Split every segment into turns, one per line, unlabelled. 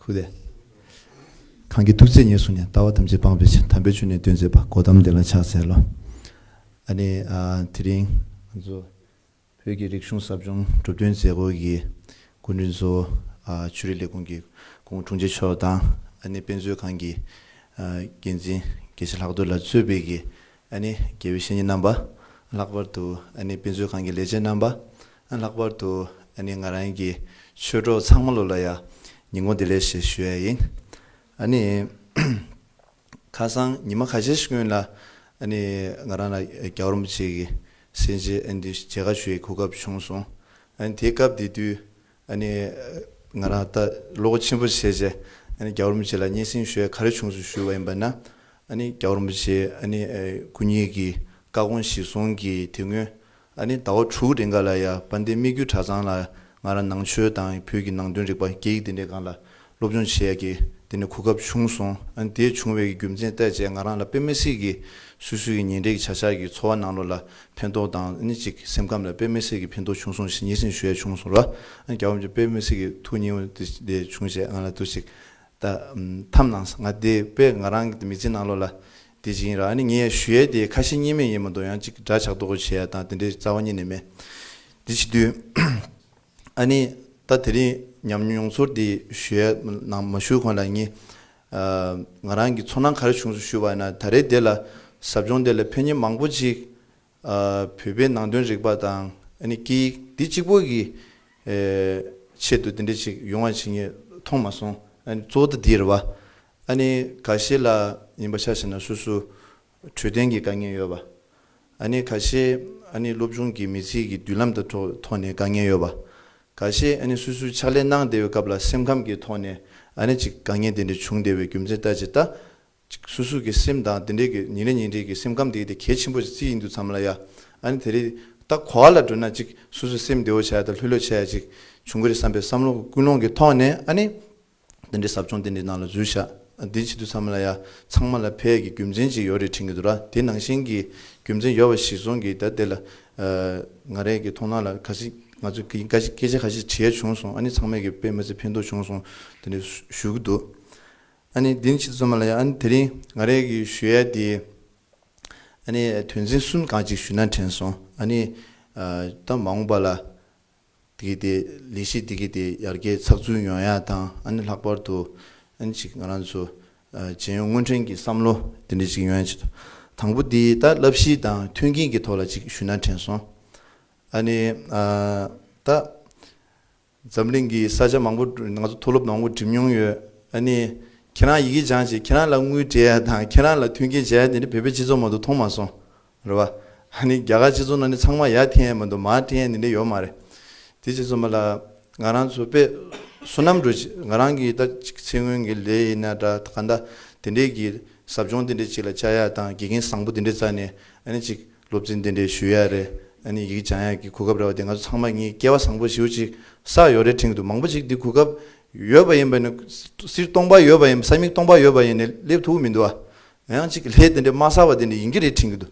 ཁུ་ལས། གང་གིས་དུག་རྫས་ཉེར་བསྲུངས་ནས་ལྟ་བ་ཐམས་ཅད་སྤངས་པའི་ཕྱིར་དམ་པའི་ཆོས་ནི་སྟོན་མཛད་པ་སྒོ་དམ་བདེ་ལ་ཕྱག་འཚལ་ལོ། ཨ་ནི། དེ་རིང་ང་ཚོ་བོད་ཀྱི་རིག་གཞུང་ཟབ་སྦྱོང་གྲུབ་བསྟུན་མཛད་སྒོ་གི་སྐུ་མགྲོན་གཙོ་བོ་ཆོས་རིག་ལས་ཁུངས་ཀྱི་ཁུངས་དྲུང་ཆེ་མཆོག་དང་ཨ་ནི་དཔེ་མཛོད་ཁང་གི་འགན་འཛིན་དགེ་བཤེས་ལྷག་རྡོར་ལ་གཙོས་བོད་ཀྱི་དགེ་བའི་བཤེས་གཉེན་རྣམ་པ། ལྷག་པར་དུ་དཔེ་མཛོད་ཁང་གི་ལས་བྱེད་རྣམ་པ། ལྷག་པར་དུ་ང་རང་གི་ཆོས་གྲོགས་ཚང་མ་ལོ་ལ་ཡང་ཉིན་གུང་དེ་ལས་ཞེས་ཞུ་ཡ་ཡིན། ཁ་སང་ཉི་མ་ཁ་ཤས་ཤིག་སྔོན་ལ་ང་རང་ལ་རྒྱ་གར་མོ་ཅིག་གིས་སེམས་ཅན་འདི་བྱད་ཁ་ཞུ་ཡི་གོ་སྐབས་བྱུང་སོང། དེའི་སྐབས་དེ་དུས་ཨ་ནི། ང་རང་ལྟ་བློ་སྒོ་ཆེན་པོ་བྱས་རྗེས་ཨ་ནི་རྒྱ་བོར་མོ་ཆེ་ལ་སྙན་སེང་ཞུ་ཡ་ག་རེ་བྱུང་སུ་ཞུས་བ་ཡིན་པ་ན། ཨ་ནི་རྒྱ་བོར་མོ་ཆེས་ཨ་ནི་སྐུ་ཉིད་ཀྱི་བཀའ་དགོངས་གཞིར་བཟུང་གིས་དེ་སྔོན་ཨ་ནི་ཟླ་བ་དྲུག་རེ་འགའ་ལ་ཡ་པ་འདི་དམིགས་རྒྱུ་གྲྭ་ཚང་ལ་ང་རང་ནང་ཆོས་དང་བོད་ཀྱི་ནང་དོན་རིག་པ་སྐད་ཡིག་འདི་འདྲའི་སྒང་ལ་སློབ་སྦྱོང་བྱས་ཀྱི་དེ་ནས་གོ་སྐབས་བྱུང་སོང་ཨ་དེ་བྱུང་བའི་རྒྱུ་མཚན་བལྟས་བྱས་ང་རང་ལ་དཔེ་མི་སྲིད་ཀྱི་སུས་སུས་ཀྱི་ཉིན་རེ་གི་བྱ་བཞག་གི་འཚོ་བ་ནང་ལོ་ལ་ཕན་ཐོག་དང་ཨ་ནི་གཅིག་སེམས་ཁམས་ལ་དཔེ་མི་སྲིད་ཀྱི་ཕན་ཐོག་བྱུང་སོང་ཞེས་ཉིན་བཞིན་ཞུ་ཡ་བྱུང་སོང་ལ་ཨ་རྒྱ་བོ་མཆོག་དཔེ་མི་སྲིད་ཀྱི་ཐུགས་སྙིང་བོ་དེ་དེ་བྱུང་བྱས་ང་ལ་དུ་ཞིག་ད་ཐམ་ནང་ས་ང་དེ་དཔེ་ང་རང་གི་མི་ཚེ་ནང་ལོ་ལ་དེ་ཅིག་ཡིན་ར་ཨ་ནི་ངས་ཡ་ཞུ་ཡ་དེ་ཁ་ཞེ་གཉིས་མེད་ཡིན་མ་གཏོགས་ཡང་གཅིག་འདྲ་ཆགས་རྡོག་གོ་བྱས་ཡ་དང་དེ་འདྲའི་རྩ་བ་གཉིས་ནས་མེད་དེ་བྱེད་དུས། ཨ་ནི། ད་དེ་རིང་ཉམས་མྱོང་ཚོར་འདི་ཞོའི་ནང་མ་ཞུགས་གོང་ལ་ངས། ང་རང་གི་ཚོར་སྣང་ག་རེ་བྱུང་སོང་ཞུས་པ་ན་ད་རེས་འདི་ལ་ཟབ་སྦྱོང་འདི་ལ་ཕན་ཉེས་མང་པོ་ཅིག་བོད་པའི་ནང་དོན་རིག་པ་དང་ཨ་ནི་སྐད་ཡིག་འདི་གཅིག་པོ་གི་ཆེད་དུ་འདི་འདྲ་ཅིག་ཡོང་བ་བྱེད་ངེས་མཐོང་མ་སོང་ཨ་ནི་གཙོ་བོ་ད་འདིར་བ་ཨ་ནི་ག་ཤེད་ལ་ཡིན་པ་ཆ་ཤེས་ན་སོ་སོ་འཕྲོད་བསྟེན་གྱི་དཀའ་ངལ་ཡོད་པ། ཨ་ནི་ག་ཤེད་ཨ་ནི་སློབ་ཆུང་གི་མི་ཚིག་གི་མདུན་ལམ་དང་ཐོག་ནས་དཀའ་ངལ་ཡོད་པ། ག་ཤེད་ཨ་ནི་སུད་སུ་ཕྱག་ལས་གནང་བདེ་བའི་སྐབས་ལ་སེམས་ཁམས་ཀྱི་ཐོག་ནས་ཨ་ནི་ཅིག་དཀའ་ངལ་དེ་འདྲ་བྱུང་བདེ་བའི་རྒྱུ་མཚན་ལྟ་ཅི་ལྟ། ཅིག་སུད་སུ་གི་སེམས་དང་དེ་འདྲའི་གི་ཉིན་རེ་ཉིན་རེ་གི་སེམས་ཁམས་དེ་གི་དེ་གལ་ཆེན་པོ་ཅིག་ཡིན་འདུག་མཚམས་ལ་ཡ་ཨ་ནི་དེ་རི་ད་གོ་བ་ལ་འགྲོ་ན་ཅིག་སུད་སུ་སེམས་བདེ་བོ་བྱ་ཡ་དང་ལྷོད་ལྷོད་བྱ་ཡ་ཅིག་བྱུང་གི་རེད་བསམ་པའི་བསམ་བློ་ཀུན་སློང་གི་ཐོག་ནས་ཨ་ནི། དེ་འདྲའི་ཟབ་སྦྱོང་དེ་འདྲའི་ནང་ལ་འཛུལ་བཞག་དེའི་ཕྱི་དུ་ཚང་མ་ལ་ཡ་ཚང་མ་ལ་ཕལ་གྱི་རྒྱུ་མཚན་ཅིག་ཡོད་རེད་དྲན་གྱི་འདུག་ར་དེ་ནང་བཞིན་གྱི་རྒྱུ་མཚན་ཡོད་པ་ཞིག་སོང་གི་ད་དེ་ལ་ང་རེ་གི་མཐོང་སྣང་ལ་ག་ཞིག་ང་ཚོས་གི་ཀ་ཤིག་སྐད་ཆ་ག་ཤིག་དྲིས་བྱུང་སོང་ཨ་ནི་ཚང་མས་གི་དཔེ་མི་ཚེ་ཕན་ཐོག་བྱུང་སོང་དེ་འདྲའི་ཞུ་གི་འདུག་ཨ་ནི་དེ་ནི་ཕྱི་དུ་ཚང་མ་ལ་ཡ་ཨ་ནི་དེ་རིང་ང་རེ་གི་ཞུ་ཡ་དེ་ཨ་ནི་དོན་ཚན་གསུམ་གང་ཅིག་ཞུས་ན་དྲན་སོང་ཨ་ནི་ད་མ་འོངས་པ་ལ། དེ་གི་དེ་ལས་གཞི་དེ་གི་དེ་ཡར་རྒྱས་ཚགས་ཚུད་ཡོང་ཡ་དང་ཨ་ནི་ལྷག་པར་དུ་ཨ་ནི་ཅིག་ང་རང་ཚོ་བྱེས་ཡོང་སྔོན་དྲན་གི་བསམ་བློ་དེ་འདྲ་ཅིག་ཡོང་ཡ་ཅིག་དང་པོ་དེ་ད་བསླབ་གཞི་དང་མཐུན་རྐྱེན་གི་ཐོག་ལ་ཅིག་ཞུས་ན་དྲན་སོང་ཨ་ནི་ད་འཛམ་གླིང་གི་ས་ཆ་མང་པོ་ང་ཚོ་མཐོ་སློབ་མང་པོ་འགྲིམས་མྱོང་ཡོད་ཨ་ནི་ཁྱེད་རང་ཡི་གེ་སྦྱངས་རྗེས་ཁྱེད་རང་ལ་དངུལ་སྤྲད་ཡ་དང་ཁྱེད་རང་ལ་མཐུན་རྐྱེན་བྱས་ཡ་དེ་འདྲ་བོད་པའི་སྤྱི་ཚོགས་མང་དུ་མཐོང་མ་སོང་རེད་བ། ཧ་ནི་རྒྱ་གར་སྤྱི་ཚོགས་ནང་ནི་ཚང་མ་ཡ་ཐི་ཡན་མི་འདུག་མ་ཐི་ཡན་ནི་ནི་ཡོད་མ་རེད། དེ་རྗེས་སུ་མ་ལ་ང་རང་ཚོ་པེ་སུ་ནམ་འགྲོ་ཆེད་ང་རང་གིས་ད་ཅིག་ཚེ་སྔོན་གྱི་ལས་ཡིན་ན་འདྲ་ག་འདྲ་དེ་འདྲས་ཀྱི་ཟབ་སྦྱོང་དེ་འདྲས་ཅིག་ལ་བཅར་ཡག་དང་དགེ་རྒན་བཟང་པོ་དེ་འདྲས་བཙལ་ནས་ཨ་ནི་ཅིག་སློབ་ཚན་དེ་འདྲས་ཞུ་ཡག་རེད་ཨ་ནི་ཡིག་སྦྱང་ཡག་གི་གོ་སྐབས་རེད་བ་དེ་ང་ཚོ་ཚང་མ་གཉིས་སྐལ་བ་བཟང་པོ་ཞིའུ་ཅིག་བསགས་ཡོད་རེད་དྲིང་དུ་མང་པོ་ཅིག་འདི་གོ་སྐབས་ཡོད་པ་ཡིན་པ་ནི་སིར་སྟོང་པ་ཡོད་པ་ཡིན་པ་ས་མིག་སྟོང་པ་ཡོད་པ་ཡིན་ནི་སླེབས་ཐུབ་མི་འདུག་བ། ཡང་ཅིག་ལྷས་དེ་འདྲའི་མ་ས་བ་དེ་འདྲ་ཡིན་གྱི་རེད་དྲན་གྱི་འདུག་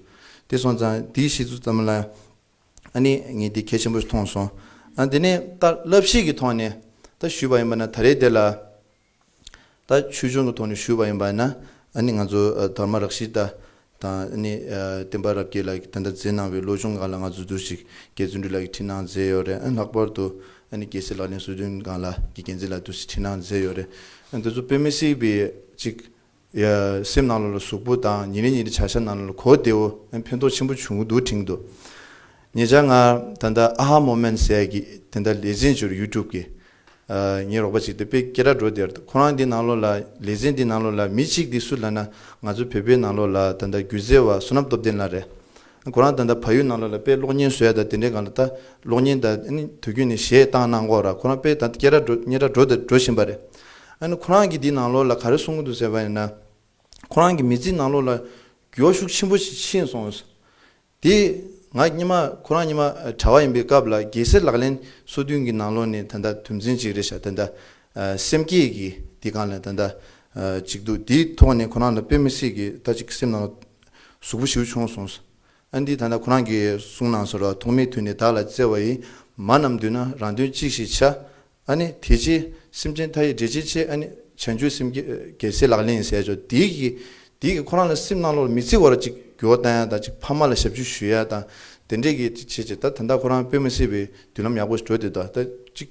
དེ་སོང་ཙང་དེའི་ཤེས་ཚུལ་ཙམ་ལ་ཨ་ནི་ངས་དེ་གལ་ཆེན་པོ་ཞིག་མཐོང་སོང་ཨ་དེ་ནས་ད་བསླབ་གཞི་གི་ཐོག་ནས་ད་ཞུས་པ་ཡིན་པ་ན་ད་རེས་དེ་ལ་ད་ཆོས་འབྱུང་གི་ཐོག་ནས་ཞུས་པ་ཡིན་པ་ན་ཨ་ནི་ང་ཚོ་དར་མ་རག་ཤི་ད་དང་ཨ་ནི་བསྟན་པ་རབ་རྒྱས་ལགས་ཀྱིས་དེ་འདྲ་མཛད་གནང་བའི་ལོ་ཆུང་སྒང་ལ་ང་ཚོ་དུས་ཤིག་རྒྱལ་བཙུན་སྤྲུལ་ལགས་ཀྱིས་འཁྲིད་གནང་མཛད་ཡོད་རེད་ཨ་ལྷག་པར་དུ་ཨ་ནི་རྒྱལ་སྲས་ལགས་ལན་བསོད་བདུན་སྒང་ལགས་ཀྱིས་རྒྱལ་མཚན་ལ་དུས་ཤིག་འཁྲིད་གནང་མཛད་ཡོད་རེད་ཨ་དེ་ཚོ་དཔེ་མི་སྲིད་པའི་ཅིག་སེམས་ནང་ལ་ལ་ཟུག་པོ་དང་ཉིན་རེ་ཉིན་རེ་བྱ་བྱ་ནང་ལ་ལ་གོ་བདེ་བོ་ཕན་ཐོགས་ཆེན་པོ་བྱུང་གི་འདུག་དྲིང་དུ་ཉེ་ཆར་ང་ད་ལྟ་ཨཧཱ་མོམེནས་ཟས་ཀྱི་དེ་འདྲ་ལེ་ཚན་བྱུར་ཡུ་ཀྲུབ་ཀྱི་ངའི་རོགས་པ་ཅིག་དེ་དཔེ་ཀེ་ར་འགྲོ་དེར་ཁོ་རང་དེ་ནང་ལོགས་ལ་ལེ་ཚན་དེ་ནང་ལོགས་ལ་མི་གཅིག་དེ་སུ་ལ་ན་ང་ཚོ་བོད་པའི་ནང་ལོགས་ལ་ད་ལྟ་སྒྱུ་རྩལ་བ་བསོད་ནམས་སྟོབས་ལྡན་ལ་རེད། ཁོ་རང་ད་ལྟ་ཕ་ཡུལ་ནང་ལ་ལ་དཔེ་ཀློག་ཉན་བཟོད་ཡ་ད་དེ་འདྲའི་གང་ལ་ད་ཀློག་ཉན་ད་ཨ་ནི་དུས་རྒྱུན་ནས་གཞས་བཏང་གནང་གོ་ར་ཁོ་རང་དཔེ་ད་སྐྱེས་ར་འགྲོ་རྙེད་ར་འགྲོ་ད་འགྲོ་བཞིན་པ་རེད། ཨ་ནི་ཁོ་རང་གིས་འདིའི་ནང་ལོགས་ལ་ག་རེ་གསུང་གི་འདུག་ཟེར་བ་ཡིན་ན། ཁོ་རང་གི་མི་ཚེའི་ནང་ལོགས་ལ་འགྱོད་ཤུགས་ཆེན་པོ་ཞིག་ཕྱིན་སོང། དེ་ང་གཉིས་མ་ཁོ་རང་གཉིས་མ་གྲྭ་བ་ཡིན་པའི་སྐབས་ལ་རྒྱལ་སྲས་ལག་ལེན་གསོ་བསྟུན་གྱི་ནང་ལོགས་ནས་ད་ད་དུམ་ཚན་གཅིག་རེད་ཤག་ད་ད་སེམས་བསྐྱེད་ཀྱི་དེ་གང་ལ་ད་ད་ཅིག་འདུག་དེའི་ཐོག་ནས་ཁོ་རང་ལ་དཔེ་མི་སྲིད་ཀྱི་ད་ཅིག་སེམས་ནང་ལོགས་གཟུགས་པོ་ཞིའུ་ཆུང་གསུངས། ཨ་འདི་ད་ནི་ཁོ་རང་གིས་གསུངས་ནང་སོ་ར་ཐོག་མེད་དུས་ནས་བདག་ལ་བརྩེ་བ་ཡི། མ་རྣམས་བསྡུས་ན་རང་དོན་གཅིག་ཞིག་བྱ། ཨ་ནི་དེ་རྗེས་སེམས་ཅན་མཐའ་ཡི་འབྲེལ་ཆེ་ཆེ་ཨ་ནི་བྱང་ཆུབ་སེམས་རྒྱལ་སྲིད་ལག་ལེན་ཟས་ཆོག་དེའི་གིས་དེའི་གིས་ཁོ་རང་ལ་སེམས་སྣང་ལོག་ལ་མི་བརྩི་བར་ཅིག་རྒྱུ་བ་བཏང་ཡ་དང་ཅིག་ཕ་མ་ལ་ཞབས་ཕྱི་ཞུ་ཡ་དང་དེ་འདྲས་གིས་ཅིག་བྱེད་ཅིག་ད་ད་ལྟ་ཁོ་རང་དཔེ་མི་སྲིད་པའི་མདུན་ལམ་ཡག་པོ་ཞིག་བགྲོད་དེ་ད་ད་ཅིག།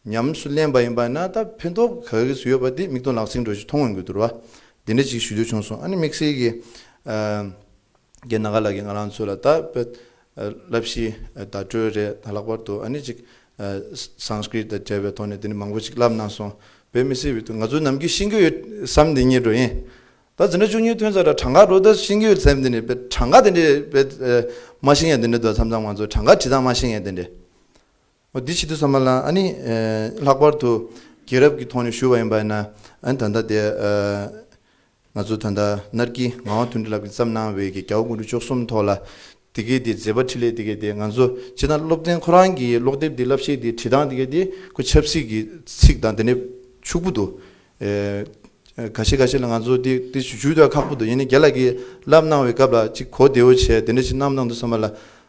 ཉམས་སུ་ལེན་པ་ཡིན་པ་ན་ད་ཕན་ཐོག་ག་ག་གེ་སུ་ཡོད་པ་དེ་མིག་སྟོང་ལག་ཟིན་འགྲོ་ཞིག་མཐོང་ངོ་དགོས་འདུར་བ། འདི་འདྲ་ཅིག་ཞུ་འདོད་བྱུང་སོང་ཨ་ནི་དམིགས་བསལ་གྱི། རྒན་ནཱ་ག་ལགས་ཀྱིས་ང་རང་ཚོ་ལ་ད་བསླབ་གཞི་བརྡ་སྤྲོད་རེ་ད་ལྷག་པར་དུ་ཨ་ནི་ཅིག Sanskrit དང་བྲལ་བའི་ཐོག་ནས་དེ་ནི་མང་པོ་ཅིག་བསླབ་གནང་སོང་བས་མི་སེར་བས་དུ་ང་ཚོ་ནམ་རྒྱུན་ཤེས་ཀྱི་ཡོད་བསམ་དེ་ཉེར་འགྲོ་ཡིན། ད་འཛིན་གྲྭ་བཅུ་གཉིས་ཐོན་ས་ད་གྲངས་ཀ་རོ་ད་ཤེས་ཀྱི་ཡོད་བསམ་དེ་ནི་བས་གྲངས་ཀ་དེ་འདྲས་བས་མ་ཤེས་ཡང་དེ་འདྲས་འདུག་ད་མཚམས་མཚམས་ང་ཚོ་གྲངས་ཀ་བྲིས་ཙང་མ་ཤེས་ཡང་དེ་འདྲས། འོ་འདི་ཅི་འདུག་ས་མ་ལངས་ཨ་ནི། ལྷག་པར་དུ་རྒྱལ་རབས་ཀྱི་ཐོག་ནས་ཞུ་བ་ཡིན་པ་ཡིན་ན་ཨ་ནི་ད་ལྟ་དེ། ང་ཚོ་ད་ལྟ་སྣར་གྱིས་ངག་དབང་དོན་འགྲུབ་ལགས་ཀྱིས་བརྩམས་གནང་བའི་གི་ག་བ་ཀུན་གྲོལ་ཅོག་གསུམ་ཐོག་ལ། དེ་གའི་དེ་མཛད་པ་ཁྲི་ལས་དེ་གའི་དེ་ང་ཚོ་སྤྱིར་ན་སློབ་ཚན་ཁོ་རང་གི་ཀློག་དེབ་དེ་བསླབ་བྱའི་དེ་བྲིས་སྟངས་དེ་གའི་དེ་ཁོ་ཆབ་སྲིད་ཀྱི་ཚིག་དང་དེ་ནས་ཕྱུག་པོ་འདུག། ག་ཤེད་ག་ཤེད་ལ་ང་ཚོ་དེ་དེ་ཞུ་དུས་ཁག་པོ་འདུག་ཡིན་ནའི་རྒྱལ་ལགས་ཀྱིས་བསླབས་གནང་བའི་སྐབས་ལ་ཅིག་གོ་བདེ་བོ་བྱས་དེ་འདྲ་ཅིག་གནང་མདོག་འདུག་ས་མ་ལ།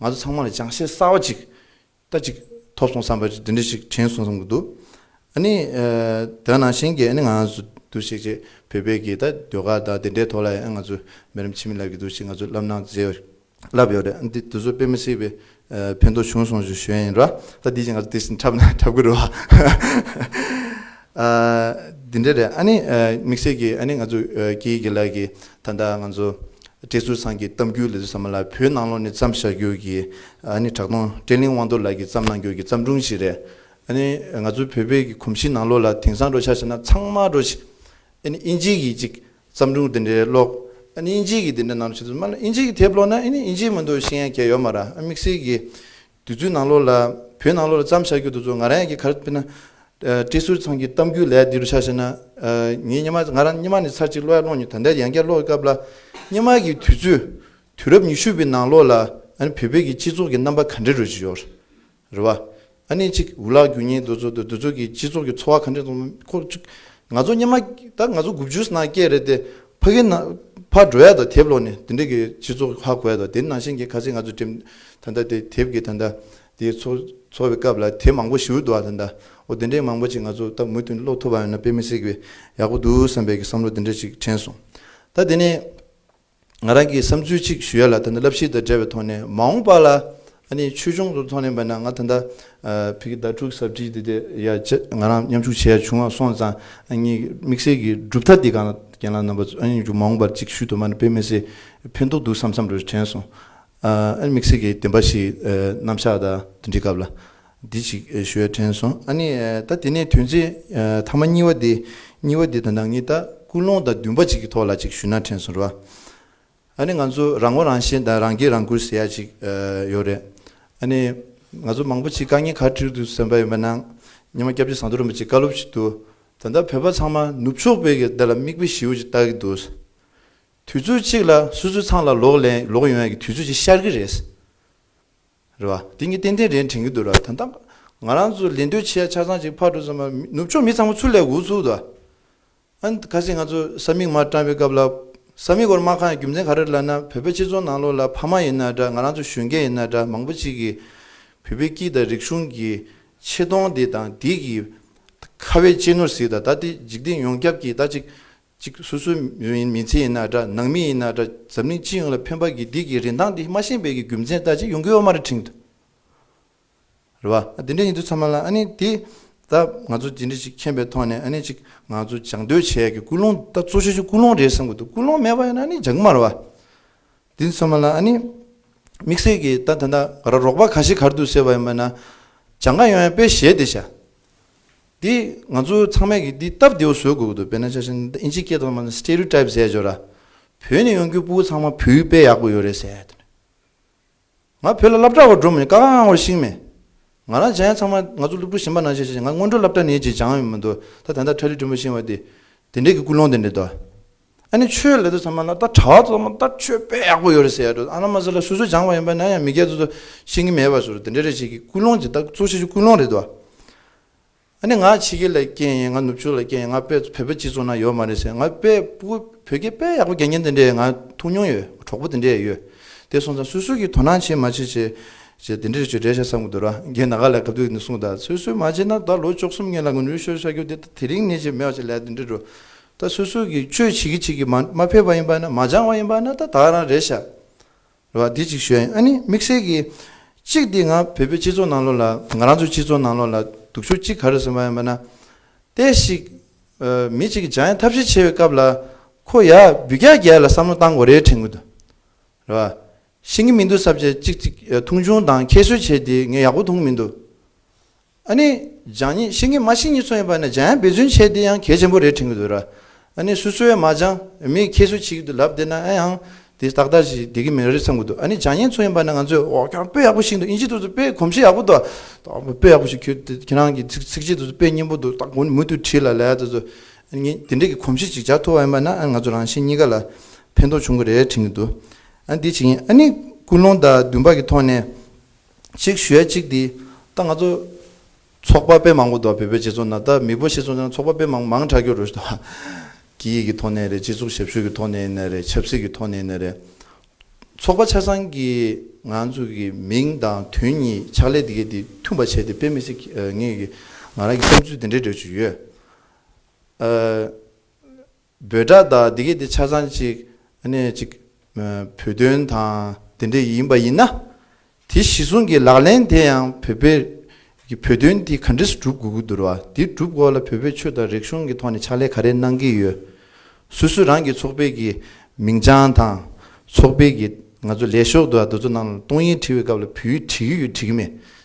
ང་ཚོ་ཚང་མ་ལ་ཅང་ཤེས་གསར་བ་ཅིག་ལྟ་ཅིག་ཐོབ་སོང་བསམ་པའི་འདི་འདྲ་ཞིག་དྲན་སོང་བསམ་གྱི་འདུག་ཨ་ནི། དེ་ནང་བཞིན་གྱི་ཨ་ནི་ང་ཚོ་འདུ་ཤེས་ཀྱི་བོད་པའི་གི་ད་ཟློས་གར་དང་དེ་འདྲའི་ཐོག་ལ་ཡང་ང་ཚོ་མི་རམ་ཕྱི་མི་ལབ་ཀྱི་འདུག་ཤིག་ང་ཚོ་ལབ་ན་མཛེས་བ་ཞིག་ལབ་ཡོད་རེད་འདི་དེ་ཚོ་དཔེ་མི་སྲིད་པའི་ཕན་ཐོག་བྱུང་སོང་ཞིག་ཞུས་ཡིན་ར་ད་འདི་ཞིག་ང་ཚོ་དེ་བཞིན་འཁྲབ་ན་འཁྲབ་གི་རེད་བ། ཨ། འདི་འདྲ་རེད་ཨ་ནི། དམིགས་བསལ་གྱིས་ཨ་ནི་ང་ཚོ་སྐྱེ་ཡི་གེ་ལགས་ཀྱིས་ད་ལྟ་ང་ཚོ་བཀྲས་ཟུར་ཚང་གི་གཏམ་རྒྱུད་ལས་ཟུར་ཚང་མ་ལ་བོད་ནང་ལོགས་ནས་བརྩམས་བཞག་རྒྱུར་གྱིས་ཨ་ནི་གྲགས་སྟོང་བཀྲས་གླིང་དབང་རྡོར་ལགས་ཀྱིས་བརྩམས་གནང་རྒྱུར་གྱི་བརྩམས་སྒྲུང་ཞིག་རེད་ཨ་ནི། ང་ཚོ་བོད་པའི་གི་གོམས་གཤིས་ནང་ལོགས་ལ་དེང་སང་འགྲོ་འཆར་བྱས་ན་ཚང་མ་འགྲོ་ཞིག་ཨ་ནི་དབྱིན་ཇིའི་གི་ཅིག་བརྩམས་སྒྲུང་དེ་འདྲའི་ཀློག་ཨ་ནི་དབྱིན་ཇིའི་གི་དེ་འདྲ་ནང་ལོགས་ཆེ་དུས་མ་ལོགས་དབྱིན་ཇིའི་གི་དེབ་ཀློག་ན་ཨ་ནི་དབྱིན་ཇིའི་མི་འདུག་ཤེས་ཡ་གྱ་ཡོད་མ་ར་ཨ་དམིགས་བསལ་གྱིས། དུས་ཚོད་ནང་ལོགས་ལ་བོད་ནང་ལོགས་ལ་བརྩམས་བཞག་རྒྱུ་འདུག་ཚོ་ང་རང་ཡང་གི་གར་སྤེལ་ན། བཀྲིས་ཟུར་ཚང་གི་གཏམ་རྒྱུད་ལས་འདི་རུ་ཆགས་ཤེ་ན། ངས་སྙེ་མ་ང་རང་སྙེ་མ་ནས་ཚར་གཅིག་གློ་ཡ་སློང་མྱོང་ད་ལྟའི་ཡང་བསྐྱར་ཀློག་གི་སྐབས་ལ། སྙེ་མ་གི་དུས་ཚོད་དུས་རབས་ཉི་ཤུ་པའི་ནང་ལོགས་ལ་བོད་པའི་གི་སྤྱི་ཚོགས་གི་རྣམ་པ་ག་འདྲའི་རོལ་གྱི་ཡོད་རེད་བ། ཨ་ནི་ཅིག་འུ་ལག་འགྱུར་ཉེན་འདུག་ཚོ་འདུག་འདུག་ཚོ་གི་སྤྱི་ཚོགས་གི་འཚོ་བ་ག་འདྲའི་ཁོ། ང་ཚོ་སྙེ་མ་ད་ང་ཚོ་དགུ་བཅུ་ནང་སྐྱེས་རེད་དེ། ཕ་གི་ན་ཕ་འགྲོ་ཡ་དང་དེབ་ལོག་ནས་དེ་འདྲ་གི་སྤྱི་ཚོགས་ཧ་གོ་ཡ་དང་དེ་ནང་བཞིན་གི་ཁ་ཚིག་ང་ཚོ་འགྲིམ་ད་ད་དེ་དེབ་གི་ད་ད་དེ་ཚོ་འཚོ་བའི་སྐབས་ལ་དེ་མང་པོ་ཞུ་འདུག་ཨ་ད་ད་འོ་དེ་འདྲའི་མང་པོ་ཅིག་ང་ཚོ་ད་མུ་ཐུན་ཀློག་ཐུབ་པ་ཡོད་ན་དཔེ་མི་སྲིད་པའི་ཡག་པོ་འདུག་བསམ་པའི་གི་བསམ་བློ་དེ་འདྲ་ཅིག་དྲན་སོང་ད་དེ་ནས་ང་རང་གི་བསམ་ཚུལ་ཅིག་ཞུ་ཡ་ལ་ད་ད་བསླབ་གཞི་དང་འབྲེལ་བའི་ཐོག་ནས་མ་འོངས་པ་ལ་ཨ་ནི་ཆོས་འབྱུང་དུ་མཐོང་ནས་བས་ན་ང་ད་ལྟ་བྷི་གི་ཟླ་དྲུག་གཟབ་ཁྲིད་འདི་དེ་ཡ་ཅི་ང་རང་མཉམ་ཞུགས་བྱས་ཡ་བྱུང་ང་སོང་ཙང་ཨ་ནི་དམིགས་བསལ་གྱི་གྲུབ་མཐའ་འདི་གང་ལ་རྒན་ལགས་རྣམ་པ་ཨ་ནི་འཇུག་མ་འོང་པར་ཅིག་ཤུལ་དུ་མ་ནི་དཔེ་མི་སྲིད་ཕན་ཐོགས་འདུག་བསམ་བསམ་རེ་རེ་དྲན་སོང། ཨ་ནི་དམིགས་བསལ་གྱི་བདེན་པ་ཞིག་རྣམ་བཞག་དང་འདི་འདྲི་སྐབས་ལ་འདི་ཞིག་ཞུ་ཡ་དྲན་སོང་ཨ་ནི་ད་དེ་ནས་དོན་ཚན་ཐ་མ་གཉིས་བ་འདི་གཉིས་བ་འདི་ད་ནང་ཉིད་ད་ཀུན་སློང་དང་བདུན་པ་ཅིག་གི་ཐོག་ལ་ཅིག་ཞུ་ན་དྲན་སོང་རེད་བ། ཨ་ནི་ང་ཚོ་རང་ངོ་རང་ཞེན་དང་རང་སྐྱིད་རང་བཀུར་ཟེར་ཡ་ཅིག་ཡོད་རེད། ཨ་ནི་ང་ཚོ་མང་པོ་ཅིག་དཀའ་ངལ་ཁ་འཁྲིར་འདུག་ཟེར་འབའ་ཡོད་མེད་ནང་ཉི་མ་སྐྱབས་རྗེ་ཟངས་མདོག་རིན་པོ་ཆེ་བཀའ་སློབ་ཞིག་འདུག་ད་ལྟ་བོད་པ་ཚང་མ་ནུབ་ཕྱོགས་པའི་གི་དེ་ལ་མིག་དཔེ་ཞིའུ་ཅིག་བལྟ་གི་འདུག་དུས་ཚོད་ཅིག་ལ་སུ་སུ་ཚང་ལ་ལོག་ལན་ལོག་ཡོང་ཡ་གི་དུས་ཚོད་ཅིག་ཤར་གི་རེད། རེད་བ། དེ་གཉིས་ཏན་ཏན་རེད་དྲན་གི་འདུག་ར་ད་ལྟ་ང་རང་ཚོ་ལས་འདོད་ཆེ་ཡ་ཆ་ཚང་ཅིག་ཕར་འགྲོ་ཙམ་མ་ནུབ་ཕྱོགས་མི་ཚང་མ་ཚུར་ལས་འགུག་ཚུགས་དུ། གལ་སྲིད་ང་ཚོ་ས་མིག་མར་བཀྲམ་པའི་སྐབས་ལ། ས་མིག་སྒོར་དམག་ཁང་ཡི་རྒྱུ་མཚན་ག་རེར་ལབ་ན་བོད་པའི་སྤྱི་ཚོགས་ནང་ལོགས་ལ་ཕ་མ་ཡིན་ན་འདྲ་ང་རང་ཚོ་གཞོན་སྐྱེས་ཡིན་ན་འདྲ་མང་པོ་ཅིག་གིས་བོད་པའི་སྐྱིད་དང་རིག་གཞུང་གི་ཆེ་མཐོང་འདི་དང་འདི་གིས་ཁ་བའི་གཅེས་ནོར་ཟིག་དང་ད་ལྟའི་འཇིག་རྟེན་ཡོངས་ཁྱབ་ཀྱིས་ད་ཅིག་ཅིག་སོ་སོའི་མི་ཚེ་ཡིན་ན་འདྲ་ནང་མི་ཡིན་ན་འདྲ་འཛམ་གླིང་སྤྱི་ཡོངས་ལ་ཕན་པ་གི་འདི་གི་རིན་ཐང་འདི་མ་ཤེས་པའི་གི་རྒྱུ་མཚན་ད་ཅིག་ཡོང་གི་ཡོད་མ་རེད་དྲིང། རེད་བ། དེ་འདྲའི་ཡིན་དུས་ཚང་མ་ལ་ཨ་ནི་དེ་ད་ང་ཚོ་དེ་འདྲ་ཞིག་མཁྱེན་པའི་ཐོག་ནས་ཨ་ནི་ཅིག་ང་ཚོ་སྦྱང་སྡོད་བྱས་ཀྱི་ཀུན་སློང་ད་གཙོ་ཆེ་ཆུ་ཀུན་སློང་རེད་བསམ་གྱི་འདུག་ཀུན་སློང་མེད་པ་ཡིན་ན་ཨ་ནི་སྦྱང་གི་མ་རེད་བ། དེ་ཚང་མ་ལ་ཨ་ནི་དམིགས་བསལ་གྱི་ད་ད་ད་ར་རོགས་པ་ག་ཞིག་གར་འདུག་ཟེར་བ་ཡིན་པ་ན་སྦྱང་ག་ཡོང་ཡང་དཔེ་ཞལ་དེ་བྱ། དེ་ང་ཚོ་ཚང་མས་ཀྱི་དེ་སྟབས་བདེ་བོ་བཟོ་དགོས་ཀྱི་འདུག་དཔེར་ན་ཆ་ཤས་ཨིན་ཇིའི་སྐད་ཐོག་མ་ལ Stereotype ཟེར་ཡོད་ར། བོད་ནས་ཡོང་རྒྱུའི་སྤུ་བོ་ཚང་མ་བོད་ཡིག་དཔེ་ཡག་པོ་ཡོད་རེད་ཟེར། ང་བོད་ལ་སླབ་གྲྭ་བ་འགྲོ་མིན་དཀའ་ཁང་བར་ཤིང་མེད། ང་རང་བྱ་ཡན་ཚང་མ་ང་ཚོ་སླུབ་ཕྲུག་ཞིང་པ་ནང་བྱས་བྱས་ང་སྔོན་འགྲོ་སླབ་གྲྭ་ནས་བྱས་བྱང་ཡོད་མི་འདུག་ད་དེ་འདྲ་ཁྲ་ལི་དྲོན་མོ་ཤིང་བ་དེ་དེ་འདྲས་ཀྱི་ཀུན་སློང་དེ་འདྲས་འདུག་ཨ་ནི་ཆོས་ལས་དོ་ཚང་མ་ལ་ད་གྲྭ་བ་ཚོ་ཚང་མ་ད་ཆོས་དཔེ་ཡག་པོ་ཡོད་རེད་ཟེར་ཡ་འགྲོ་ཨ་ན་མ་ཟེར་ལ་སུ་སུ་བྱང་བ་ཡིན་པ་ན་ཡང་མི་སྐད་ཚོ་ཚོ་ཤིང་གི་མེད་པ་ཟུར་དེ་འདྲས་རེད་བྱས་ཀྱི་ཀུན་སློང་དེ་ད་གཙོ་ཆེ་ཆུ་ཀུན་སློང་རེད་འདུག། ཨ་ནི་ང་ཕྱི་རྒྱལ་ལ་སྐྱེས་ཡིན་ང་ནུབ་ཕྱོགས་ལ་སྐྱེས་ཡིན་ང་དཔེ་བོད་པའི་སྤྱི་ཚོགས་ན་ཡོད་མ་རེད་ཟེར་ང་དཔེ་བོད་སྐད་དཔེ་ཡག་པོ་རྒྱལ་མཁན་དེ་འདྲས་ང་ཐུག་མྱོང་ཡོད་གྲོགས་པོ་དེ་འདྲས་ཡོད་དེ་སོང་ཙང་སུས་སུས་ཀྱིས་དོ་སྣང་བྱེད་མ་བྱེད་ཅེས་དེ་འདྲས་ཆོས་འབྲེལ་བཤད་བསམ་གི་འདུག་ར་རྒན་ད་ག་ལ་ག་དུས་ནས་བཟུང་ད་སུས་སུས་མ་བྱེད་ན་ད་ལོ་བཅོ་གསུམ་ངན་ལ་ངུ་ནུས་ཤོར་བཤད་རྒྱུ་དེ་ད་དེ་རིང་ནས་བྱེད་མེད་བ་བྱེད་ལས་དེ་འདྲས་འགྲོ་ད་སུས་སུས་ཀྱིས་ཆོས་བྱེད་ཀྱི་བྱེད་ཀྱི་མ་མ་ཕེབས་པ་ཡིན་པ་ན་མ་སྦྱང་བ་ཡིན་པ་ན་ད་ད་རང་རེད་བཤད། རེ་བ་དེ་གཅིག་ཤོད་ཨ་ནི་དམིགས་བསལ་གྱིས། གཅིག་འདི་ང་བོད་པའི་སྤྱི་ཚོགས་ནང་ལོགས་ལ་ང་རང་ཚོའི་སྤྱི་ཚོགས་ནང་ལོགས་ལ་སྡུག་ཤུགས་གཅིག་ག་རེ་སོང་བ་ཡིན་པ་ན། ལྟས་ཤིག། མི་གཅིག་གིས་འཇང་ཡང་ཐབས་ཤེས་ཆེ་བའི་སྐབས་ལ། ཁོ་ཡར་འབུད་རྒྱག་རྒྱག་ལ་བསམ་བློ་བཏང་དགོས་རེད་དྲན་གི་འདུག་རེ་བ། ཤེས་ཀྱི་མི་འདུག་ཟབ་ཆ་གཅིག་མཐོང་ཆུང་དང་ཁྱད་གསོད་བྱས་དེ་ངས་ཡག་པོ་མཐོང་གི་མི་འདུག། ཨ་ནི། སྦྱང་ཉིད་ཤེས་ཀྱི་མ་ཤེས་ཉིད་ཚོ་ཡིན་པ་ནི་སྦྱང་ཡང་འབད་བརྩོན་བྱས་དེ་ཡང་གལ་ཆེན་པོ་རེད་དྲན་གྱི་འདུག་ར། ཨ་ནི་སུ་སུ་ཡང་མ་སྦྱང་མི་ཁྱེད་སུ་བྱེད་ཀྱི་འདུག་ལབ་བསྡད་ན་ཨ་ཡང་དེ་ཏག་ཏག་ཅིག་བསྡད་ཀྱི་མེད་རེད་བསམ་གྱི་འདུག་ཨ་ནི་སྦྱང་ཉན་ཚོ་ཡིན་པ་ནི་ང་ཚོས་འོ་སྐྱོར་དཔེ་ཡག་པོ་ཞིག་འདུག་དབྱིན་ཇི་དུ་ཚོ་དཔེ་གོམས་གཤིས་ཡག་པོ་འདུག་ཨ། དཔེ་ཡག་པོ་ཞིག་ཁྱོད་དེ་ཁྱེད་རང་གི་ཚིག་ཚིག་གཅིག་དུ་ཚོ་དཔེ་སྙན་པོ་འདུག་ཏག་གོ་ནི་མུ་མཐུད་བྲིས་ལ་ལད་དུ་ཚོ། ཨ་ནི་དེ་འདྲས་ཀྱི་གོམས་གཤིས་ཅིག་འཇགས་ཐུབ་པ་ཡིན་པ་ན་ཨ་ང་ཚོ་རང་བཞིན་གཉིས་ཀ་ལ་ཕན་ཐོགས་བྱུང་གི་རེད་དྲན་གྱི་འདུག་ཨ་འདི་བྱེད་ཀྱིན་ཨ་ནི་ཀུན་སློང་དང་བདུན་པ་གྱི་ཐོག་ནས། ཅིག་ཞུས་ཡ་ཅིག་འདི་ད་ང་ཚོ་ཚོགས་པ་དཔེ་མང་པོ་འདུག་བལ་བོད་རྗེ་ཙོང་ན་ད་མིག་པོ་ཤེས་ཙོང་ན་ཚོགས་པ་དཔེ་མང་མང་དྲག་རྒྱུ་རུ་ཟློག་གི་ཡིག་གི་ཐོག་ནས་རེད་སྤྱི་ཚོགས་ཞབས་ཞུ་གི་ཐོག་ནས་ཡིན་ན་རེད་ཆབ་སྲིད་གི་ཐོག་ནས་ཡིན་ན་རེད་ཚོགས་པ་ཆ་ཚང་གི་ང་ཚོ་གི་མིང་དང་དོན་གཉིས་ཕྱག་ལས་འདི་གས་འདི་མཐུན་པ་བྱས་ཏེ་དཔེ་མི་སྲིད་ངེས་ཀི་ང་རང་གི་བསམ་ཚུལ་འདི་འདྲའི་འདྲ་ཆུ་ཡོད། འབོད་སྒྲ་དག་འདི་གའི་དེ་ཆ་ཚང་གཅིག་ནས་གཅིག་བོད་དོན་དང་འདི་འདྲ་ཡིན་པ་ཡིན་ན། དེ་གཞི་བཟུང་གི་ལག་ལེན་དེ་ཡང་བོད་པའི་གི་བོད་དོན་དེ་ག་འདྲས་སྒྲུབ་དགོས་ཀྱི་འདུར་བ་དེ་སྒྲུབ་དགོས་ལ་བོད་པའི་ཆོས་དང་རིག་གཞུང་གི་ཐོག་ནས་ཕྱག་ལས་ག་རེ་གནང་གི་ཡོད། སུ་སུ་རང་གི་ཚོགས་པའི་གི་མིང་བྱང་དང་ཚོགས་པའི་གི་ང་ཚོ་ལས་ཤོག་དུ་བ་དུ་ཚོ་ནང་ལ་གཏོང་ཡིག་བྲི་བའི་སྐབས་ལ་བུ་ཡིག་བྲི་གི་ཡོད་བྲི་གི་མེད་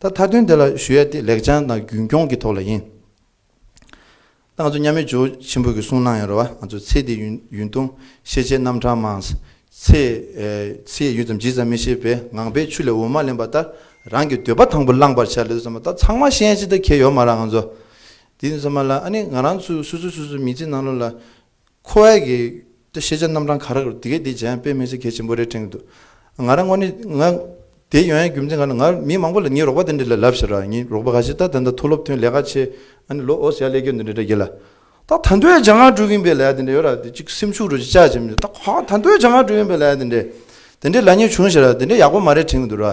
ད་མཐའ་དོན་དེ་ལ་ཞུ་ཡ་དེ་ལེགས་བྱང་དང་རྒྱུན་སྐྱོང་གི་ཐོག་ལ་ཡིན། ད་ང་ཚོ་མཉམ་མེད་ཇོ་ཆེན་པོ་གི་གསུང་གནང་ཡོད་ར་བ་ང་ཚོ་ཚེ་འདི་ཡུན་ཡུན་ཐུང་ཤེས་བྱའི་རྣམ་གྲངས་མང། ཚེ་ཚེ་ཡུད་ཙམ་ཇི་ཙམ་མི་ཤེས་པས་ངང་པའི་ཆུ་ལས་འོ་མ་ལེན་པ་ལྟར་རང་གི་འདོད་པ་དང་པོ་བླངས་པར་བྱ་ལེ་ཙམ་མ་ད་ཚང་མ་ཤེས་ཅི་ད་ཁྱེད་ཡོད་མ་ར་ང་ཚོ་དེ་ཙམ་མ་ལ་ཨ་ནི་ང་རང་ཚོས་སུ་སུ་སུ་སུ་མི་ཚེ་ནང་ལོ་ལ་ཁོ་བོའི་གི་ཏུ་ཤེས་བྱ་རྣམ་གྲངས་ཁ་རག་རུ་དེ་གས་དེ་བྱས་དཔེ་མེད་ཚིག་གས་ཆེན་པོ་རེ་ཕྲེང་འདུག་ང་རང་ངོ་ནི་ང། དེ་ཡོན་ཡའི་རྒྱུ་མཚན་ག་ལ་ང་མི་མང་པོ་ལ་ངའི་རོགས་པ་དེ་འདྲ་ལས་ལབ་ཟེར་ར་ངའི་རོགས་པ་ག་ཞིག་ད་དེ་འདྲ་ཐུགས་སློབ་ཐོན་ལས་ཀ་ཆེ་ཨ་ནི་ལོ་ཨོ་ཟེར་ཡ་ལས་སྐྱོན་འདི་འདྲ་འདྲ་གྱི་ལ། ད་ད་འདོད་ཡ་ཇག་ང་དྲུག་ཡིན་པའི་ལས་དེ་འདྲ་ཡོད་ར་དེ་གཅིག་སེམས་ཤུགས་རུ་ཅིག་ཅག་བྱེད་མི་ད་ཧ་ད་འདོད་ཇག་ང་དྲུག་ཡིན་པའི་ལས་དེ་འདྲ། དེ་འདྲའི་ལ་ངས་བྱུང་ཟེར་ར་དེ་འདྲ་ཡག་པོ་མ་རེད་ཕྲེང་འདུག་ར།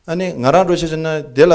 ཨ་ནི་ང་རང་འགྲོ་ཤེས་ཆེ་ན་དེ་ལ།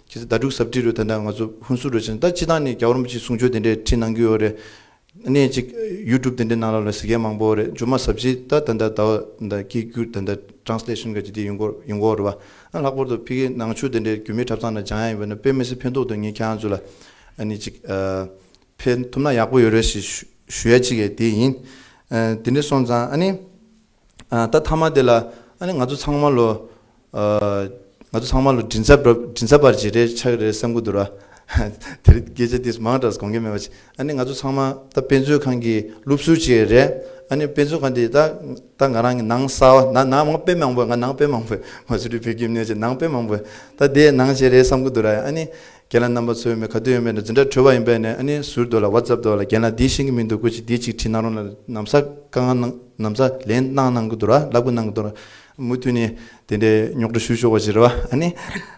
ཁྱེད་ཚོ་ཟླ་དྲུག་གཟབ་ཁྲིད་རུ་ད་ལྟ་ང་ཚོ་ཧུན་སུར་རུ་ཕྱིན་ད་ཕྱི་ཐང་ནས་རྒྱ་གོར་མོ་ཅིག་གསུང་ཆོས་དེ་འདྲས་ཁྲིད་གནང་གི་ཡོད་རེད་གནས་གཅིག་ཡུ་ཀྲུབ་དེ་འདྲས་ནང་ལ་ལ་ཟི་གལ་མང་པོ་རེད་ཇོ་མ་ཟབ་ཁྲིད་ད་ད་འདྲ་ད་འོ་ད་སྐད་སྐྱུར་ད་འདྲ Translation ག་ཅིག་དེ་ཡུན་གོར་ཡུན་གོར་རུ་བ་ཨ་ལྷག་པོར་དུ་ཕི་གེ་ནང་ཆོས་དེ་འདྲས་རྒྱུ་མའི་འཁྲབ་ཚང་ན་སྦྱང་ཡ་ཡིན་པ་ན་དཔེ་མི་སི་ཕན་ཐོག་ཏུ་ངས་ཁྱེད་རང་ཚོ་ལ་ཨ་ནི་ཅིག་ཕེལ་ཐུབ་ན་ཡག་པོ་ཡོད་རེད་ཞེས་ཞུ་ཡ་ཅིག་གེ་དེ་ཡིན་དེ་འདྲས་སོང་ཙང་ཨ་ནི། ད་མཐའ་མ་དེ་ལ་ཨ་ནི་ང་ཚོ་ཚང་མ་ལོ། ང་ཚོ་ཚང་མ་ལོ་དྲིན་ཚ་བར་བྱེད་རེ་ཆགས་རེ་བསམ་གི་འདུག་ར། དེ་རིང་སྐད་ཆ་དེ་མང་དྲགས་སུ་དགོངས་ཀྱི་མེད་པ་ཅི། ཨ་ནི་ང་ཚོ་ཚང་མ་ད་དཔེ་མཛོད་ཁང་གི་སློབ་ཟུར་ཅིག་རེད། ཨ་ནི་དཔེ་མཛོད་ཁང་དེ་ད་ང་རང་གི་ནང་གསའ་བ་ན་ནང་དཔེ་མང་པོ་ང་ནང་དཔེ་མང་པོ། ང་ཚོ་འདི་བོད་ཁྱིམ་ནས་ཅིག་ནང་དཔེ་མང་པོ། ད་དེ་ནང་བྱེད་རེ་བསམ་གི་འདུག་ར། ཨ་ནི་རྒན་ལགས་རྣམ་པ་ཚོའི་མི་ག་དུས་ཡོད་མེད་ལ་འཛིན་གྲྭ་གྲོལ་བ་ཡིན་པས་ནས་ཨ་ནི་ཟུར་དུ་ལ་བ་ཛབ་འདུག་ལ་རྒན་ལགས་འདིའི་ཤེས་ཀྱི་མི་འདུག་ཀུ་ཅི་འདིའི་ཅིག་བྲིས་གནང་རོགས་ལ་ནམ་ཟ་ཀ་ང་གནང་ནམ་ཟ་ལན་གནང་གནང་གི་འདུག་ར་ལ་ཀུ་གནང་གི་འདུག་ར་མུ་མཐུད་ནས་དེ་འདྲའི་རྙོག་དྲ་ཞུ་ཆོག་པ་ཞིག་རེད་བ་ཨ་ནི་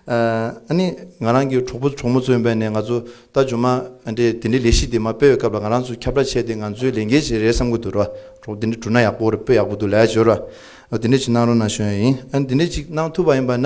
ཨ་ནི་ང་རང་གི་གྲོགས་པོ་གྲོགས་མོ་ཚོ་ཡིན་པས་ནས་ང་ཚོ་ད་འབྱོར་མ་ཨ་འདྲའི་དེ་འདྲའི་ལས་གཞི་དེ་མ་སྤེལ་བའི་སྐབས་ལ་ང་རང་ཚོ་ཁྱབ་བསྒྲགས་བྱས་ཏེ་ང་ཚོའི་ལས་འགན་ཞིག་རེད་བསམ་གི་འདུག་ར་གྲོགས་དེ་འདྲ་བསྒྲུབ་ན་ཡག་པོ་རེད་དཔེ་ཡག་པོ་འདུག་ལ་ཞོར་ར་དེ་འདྲའི་ཅིག་གནང་རོགས་གནང་ཞོན་ཡིན་ཨ་ནི་དེ་འདྲའི་ཅིག་གནང་ཐུབ་པ་ཡིན་པ་ན་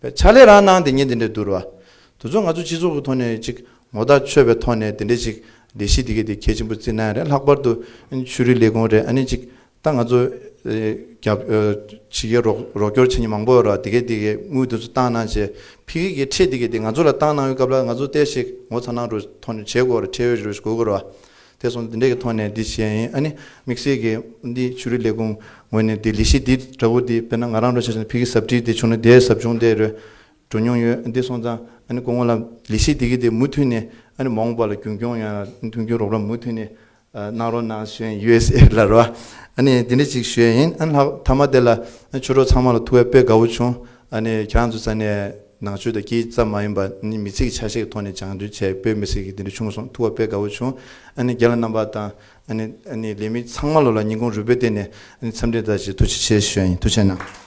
པའི་ཕྱག་ལས་རང་གནང་དེ་ཉིད་འདི་འདྲའི་བསྡུར་བ། དུ་ཚོགས་ང་ཚོ་སྤྱི་ཚོགས་ཀྱི་ཐོག་ནས་ཅིག་ངོ་ཐག་ཆོད་པའི་ཐོག་ནས་དེ་འདྲའི་ཅིག་ལས་གཞི་དེ་གས་དེ་གལ་ཆེན་པོ་བརྩི་ན་ཡང་རེད་ལྷག་པར་དུ་ཆོས་རིག་ལས་ཁུངས་རེད་ཨ་ནི་ཅིག་ད་ང་ཚོ་རྒྱབ་ཇི་གས་རོགས་སྐྱོར་བྱེད་མཁན་མང་པོ་ཡོད་ར་དེ་གས་དེ་གས་དངུལ་དེ་ཚོ་བཏང་གནང་བྱས་ཕི་གས་ཀྱི་ཁྲེད་དེ་གས་དེ་ང་ཚོ་ལ་བཏང་གནང་ཡོད་སྐབས་ལ་ང་ཚོ་ལྟས་ཤིག་ངོ་ཚ་ནང་རུ་ཐོག་ནས་བྱས་དགོས་ར་ཁྲེད་ཡོད་རེ་ཞུ་དགོས་དགོས་ར། དེ་སོང་འདི་འདྲས་ཀྱི་ཐོག་ནས་འདི་བྱས་ཡིན་ཨ་ནི་དམིགས་བསལ་གྱི་འདི་ཆོས་རིག་ལས་ཁུངས་ངོས་ནས་འདི་ལས་གཞི་འདི་འདྲ་བོ་འདི་དཔེར་ན་ང་རང་འགྲོ་ཆ་ཆུང་ཕི་གི་ཟབ་ཁྲིད་འདི་བྱུང་ན་དེའི་ཟབ་སྦྱོང་དེ་རོལ་འགྲོ་མྱོང་ཡོད་འདི་སོང་ཙང་ཨ་ནི་ཀོ་ངོ་ལ་ལས་གཞི་འདི་གི་དེ་མུ་མཐུད་ནས་ཨ་ནི་མོང་པ་ལ་རྒྱུན་སྐྱོང་ཡང་མཐུན་འགྱུར་རོགས་རམ་མུ་མཐུད་ནས་གནང་རོགས་གནང་གཞོན usa ལ་རོ་ཨ་ནི་འདི་འདྲས་ཅིག་བྱས་ཡིན་ཨ་ནི་ལྷག་མཐའ་མ་དེ་ལ་ཆོས་གྲོགས་ཚང་མ་ལ་ཐུགས་དབལ་དཔལ་དགའ་བོ་བྱུང་ཨ་ནི་ཁྱེད་རང་ཚོ་ས་ནས། ནང་ཆོས་དང་སྐྱིད་ཙམ་མ་ཡིན་པ་ནི་མི་ཚིག་ཆ་ཤས་ཀྱི་ཐོག་ནས་སྦྱང་བརྩོན་བྱས་བོད་མི་སེར་གྱི་འདི་འདྲ་བྱུང་སོང་ཐུགས་ཁ་དཔེ་དགའ་བོ་བྱུང་ཨ་ནི་རྒྱ་ལ་རྣམ་པ་དང་ཨ་ནི་ལས་མི་ཚང་མ་ལོ་ལ་ཉིན་གུང་རུས་པའི་སྟེང་ནས་ཨ་ནི་འཚམས་འདྲི་དང་བཅས་ཐུགས་རྗེ་ཆེ་ཞུ་ཡ་ཡིན་ཐུགས་ཆེ་གནང།